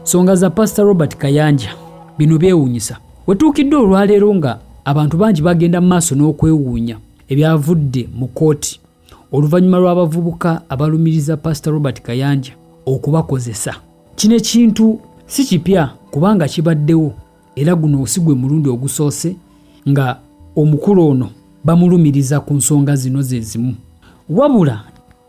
Songa za Pastor Robert Kayanja bino byewuunyisa wetuukidde olwaleero nga abantu bangi bagenda mu maaso n'okwewuunya ebyavudde mu kooti oluvannyuma lw'abavubuka abalumiriza Pastor Robert Kayanja okubakozesa kino ekintu si kipya kubanga kibaddewo era guno si gwe mulundi ogusoose nga omukulu ono bamulumiriza ku nsonga zino ze zimu wabula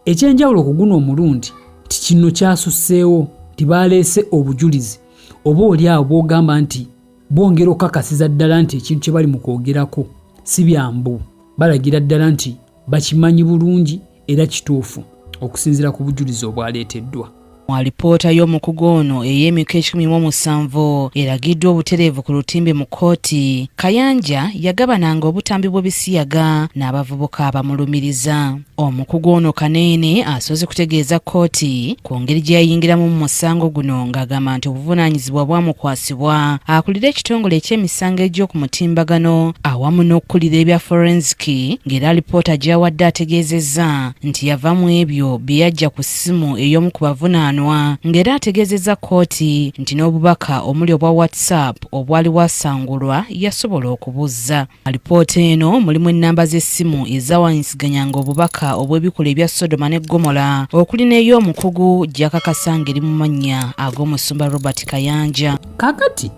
Ekyenjawulo ku guno omulundi nti kino kyasusseewo nti baaleese obujulizi oba oli awo bw'ogamba nti bwongera okukakasiza ddala nti ekintu kye bali mu kwogerako si byambu balagira ddala nti bakimanyi bulungi era kituufu okusinziira ku bujulizi obwaleeteddwa. Mu alipoota y'omukugu ono ey'emiko ekikumi mu omusanvu eragiddwa obutereevu ku lutimbe mu kkooti, Kayanja yagabananga obutambi bw'ebisiyaga n'abavubuka abamulumiriza. Omukugu ono Kaneene asoose kutegeeza kkooti ku ngeri gye yayingiramu mu musango guno ng'agamba nti obuvunaanyizibwa bwamukwasibwa akulira ekitongole eky'emisango egy'oku mutimbagano awamu n'okukulira ebya forensiki ng'era alipoota gy'awadde ategeezezza nti yava mu ebyo bye yajja ku essimu ey'omu ku bavunaanwa ng'era ategeezezza kkooti nti n'obubaka omuli obwa WhatsApp obwali bwasangulwa yasobola okubuzza. Alipoota eno mulimu ennamba z'essimu ezawanyisiganyanga obubaka obw'ebikolwa ebya Sodoma ne Ggomola okuli n'ey'omukugu gy'akakasa ng'eri mu mannya ag'omusumba Robert Kayanja. Kaakati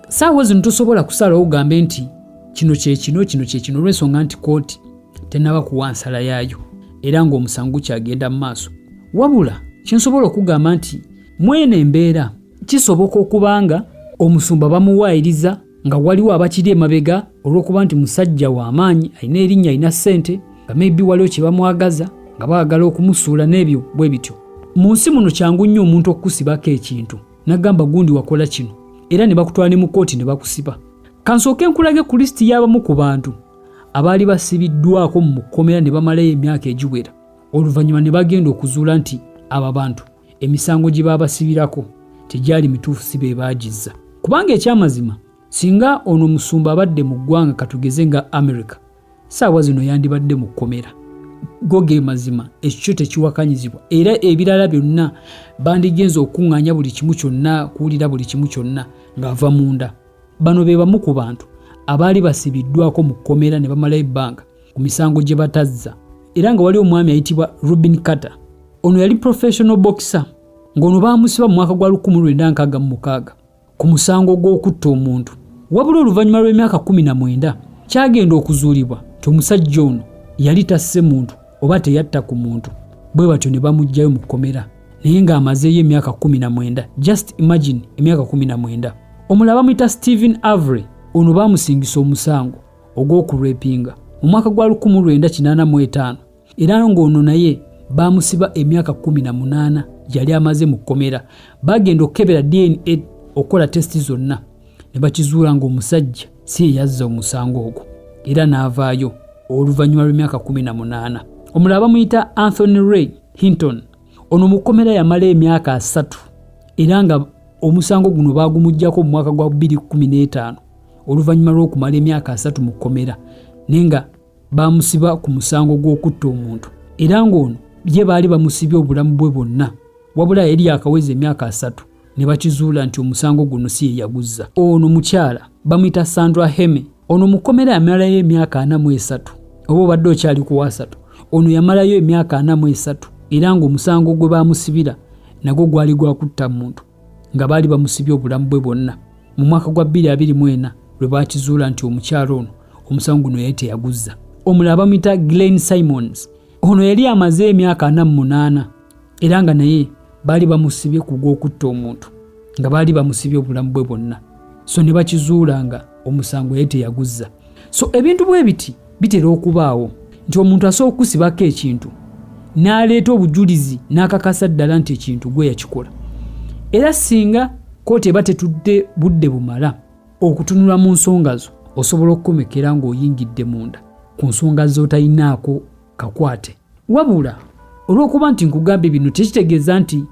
saawa zino tosobola kusalawo ogambe nti kino kyekino kino kyekino olwensonga nti kooti tenaba kuwa nsala yaayo era ng'omusango gukyagenda mu maaso wabula kyensobola okugamba nti mwene embeera kisoboka okuba nga omusumba bamuwaayiriza nga waliwo abakiri emabega olw'okuba nti musajja w'amaanyi alina erinnya alina ssente nga maybe waliwo kye bamwagaza nga baagala okumusuula n'ebyo bwe bityo mu nsi muno kyangu nnyo omuntu okukusibako ekintu nagamba gundi wakola kino era ne bakutwala ne mu kkooti ne bakusiba kansooke nkulage ku lisiti y'abamu ku bantu abaali basibiddwako mu kkomera ne bamalayo emyaka egiwera oluvannyuma ne bagenda okuzuula nti abo abantu emisango gye baabasibirako tegyali mituufu si be baagizza kubanga ekyamazima singa ono omusumba abadde mu ggwanga katugeze nga america saawa zino yandibadde mu kkomera go ge mazima ekikyo tekiwakanyizibwa era ebirala byonna bandigenza okukuŋŋaanya buli kimu kyonna kuwulira buli kimu kyonna ng'ava munda bano be bamu ku bantu abaali basibiddwako mu kkomera ne bamala ebbanga ku misango gye batazza era nga wali omwami ayitibwa robin carter ono yali professional boxer ng'ono baamusiba mu mwaka gwa 1966 ku musango gw'okutta omuntu wabula oluvannyuma lw'emyaka kkumi na mwenda kyagenda okuzuulibwa nti omusajja ono yali tasse muntu oba teyatta ku muntu bwe batyo ne bamuggyayo mu kkomera naye ng'amazeeyo emyaka kkumi na mwenda just imagine emyaka kkumi na mwenda omulala bamuyita stephen avery ono baamusingisa omusango ogw'okulwepinga mu mwaka gwa 1985 era ng'ono naye baamusiba emyaka kumi na munaana yali amaze mu kkomera baagenda okukebera dna okukola tesiti zonna ne bakizuula ng'omusajja si eyazza omusango ogwo era n'avaayo oluvannyuma lw'emyaka kumi na munaana omulala bamuyita anthony ray hinton ono mu kkomera yamala emyaka asatu era nga omusango guno baagumugyako mu mwaka gwa 215 oluvannyuma lw'okumala emyaka asatu mu kkomera naye nga baamusiba ku musango gw'okutta omuntu era ng'ono ye baali bamusibye obulamu bwe bwonna wabula yali yakaweza emyaka asatu ne bakizuula nti omusango guno si ye yaguzza ono mukyala bamuyita sandra heme ono mukomera yamalayo emyaka ana mu esatu oba obadde okyali ku wasatu ono yamalayo emyaka ana mu esatu era ng'omusango gwe baamusibira nagwo gwali gwakutta muntu nga baali bamusibye obulamu bwe bwonna mu mwaka gwa 2024 lwe baakizuula nti omukyala ono omusango guno yali teyaguzza omulala bamuyita glen simons ono yali amaze emyaka ana munaana era nga naye baali bamusibye ku gw'okutta omuntu nga baali bamusibye obulamu bwe bwonna so ne bakizuula nga omusango yali teyaguzza so ebintu bwe biti bitera okubaawo nti omuntu asobola okusibako ekintu n'aleeta obujulizi n'akakasa ddala nti ekintu gwe yakikola era singa kooti eba tetudde budde bumala okutunula mu nsonga zo osobola okukomekera ng'oyingidde munda ku nsonga z'otalinaako kakwate wabula olw'okuba nti nkugambye bino tekitegeeza nti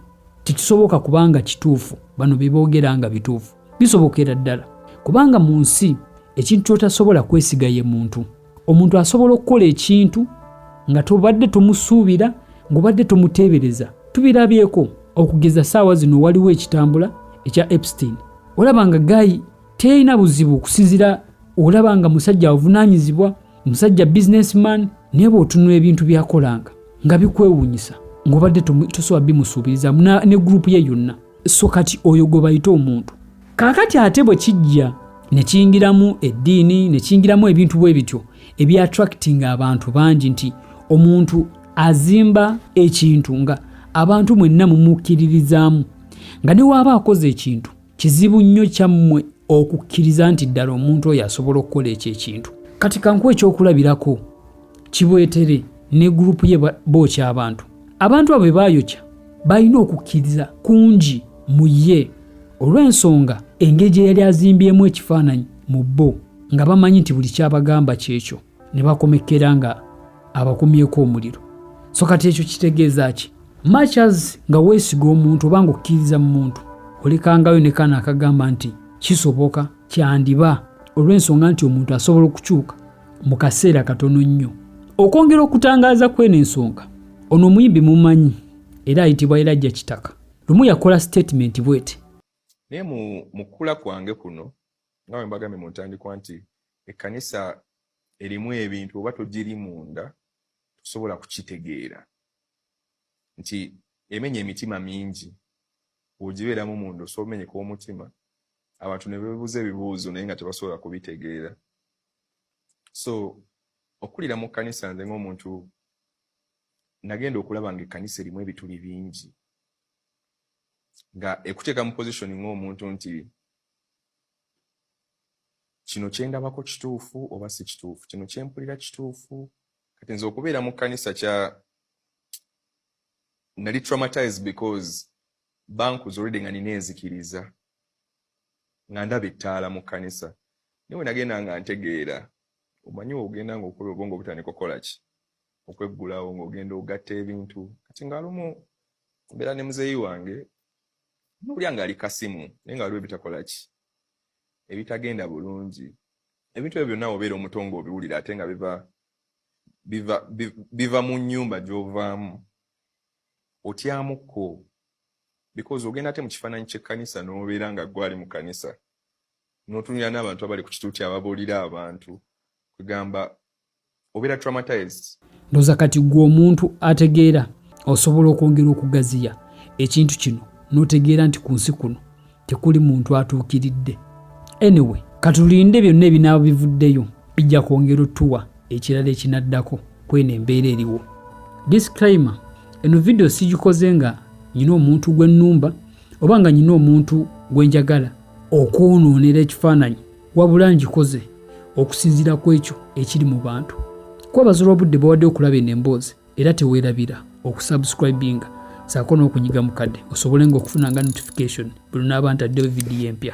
tekisoboka kubanga kituufu bano bye boogera nga bituufu bisobokera ddala kubanga mu nsi ekintu kyotasobola kwesiga ye muntu omuntu asobola okukola ekintu nga tobadde tomusuubira ng'obadde tomuteebereza tubirabyeko okugeza saawa zino waliwo ekitambula ekya epstein olaba nga gayi terina buzibu okusinzira olaba nga musajja avunanyizibwa musajja businessman naye bwotunula ebintu byakolanga nga bikwewunyisa ng'obadde tosobola bimusuubirizamu ne gurupu ye yonna so kati oyo gwe bayita omuntu kaakati ate bwe kijja ne kiyingiramu eddiini ne kiyingiramu ebintu bwe bityo ebyattractinga abantu bangi nti omuntu azimba ekintu nga abantu mwenna mumukkiririzaamu nga ne waaba akoze ekintu kizibu nnyo kyammwe okukkiriza nti ddala omuntu oyo asobola okukola ekyo ekintu kati kankuwa ekyokulabirako kibwetere ne gurupu ye bookya abantu abantu abo bebaayokya balina okukkiriza kungi mu ye olw'ensonga engeri gye yali azimbyemu ekifaananyi mu bo nga bamanyi nti buli kyabagamba kyekyo ne bakomekkera nga abakumyeko omuliro so kati ekyo kitegeeza ki machas nga weesiga omuntu oba nga okkiriza mu muntu olekangayo ne kana akagamba nti kisoboka kyandiba olw'ensonga nti omuntu asobola okukyuka mu kaseera katono nnyo okwongera okutangaaza kw'eno ensonga ono omuyimbi mumanyi era ayitibwa erajja kitaka lumu yakola sitatimenti bwete naye mu mukula kwange kuno nga bwe mbagambye mu ntandikwa nti ekkanisa erimu ebintu oba togiri munda tosobola kukitegeera nti emenya emitima mingi ogibeeramu munda osobola omenyeka omutima abantu ne bebuuza ebibuuzo naye nga tebasobola kubitegeera so okulira mu kkanisa nze ng'omuntu nagenda okulaba nga ekkanisa erimu ebituli bingi nga ekuteeka mu position ng'omuntu nti kino kyendabako kituufu oba si kituufu kino kyempulira kituufu kati nze okubeera mu kkanisa kya nali traumatized because bankuza olwedde nga nina enzikiriza nga ndaba ettaala mu kkanisa naye wenagenda nga ntegeera omanyi ogenda nga okola obwongo obutandika okukola ki okweggulawo ng'ogenda ogatta ebintu kati ngaalumu mbeera ne muzeeyi wange nowulya ngaali kasimu naye nga waliwo ebitakola ki ebitagenda bulungi ebintu ebyo byonna obeera omuto ng'obiwulira ate nga biva biva biva mu nnyumba gy'ovaamu otyamu ko because ogenda ate mu kifaananyi ky'ekkanisa n'obeera nga gwali mu kanisa n'otunira n'abantu abali ku kituuti ababuulira abantu kwegamba obeera traumatized ndoza kati gwe omuntu ategeera osobola okwongera okugaziya ekintu kino n'otegeera nti ku nsi kuno tekuli muntu atuukiridde anyway katulinde byonna ebinaaba bivuddeyo bijja kwongera otuwa ekirala ekinaddako kweno embeera eriwo disclaimer eno vidiyo sigikoze nga nyina omuntu gwennumba oba nga nyina omuntu gwenjagala okwonoonera ekifaananyi wabula ngikoze okusinziira ku ekyo ekiri mu bantu kwebaza olw'obudde bawadde okulaba eno emboozi era teweerabira okusubscribinga saako n'okunyiga mukadde osobole nga okufuna nga notification buli naaba ntaddewo vidiyo empya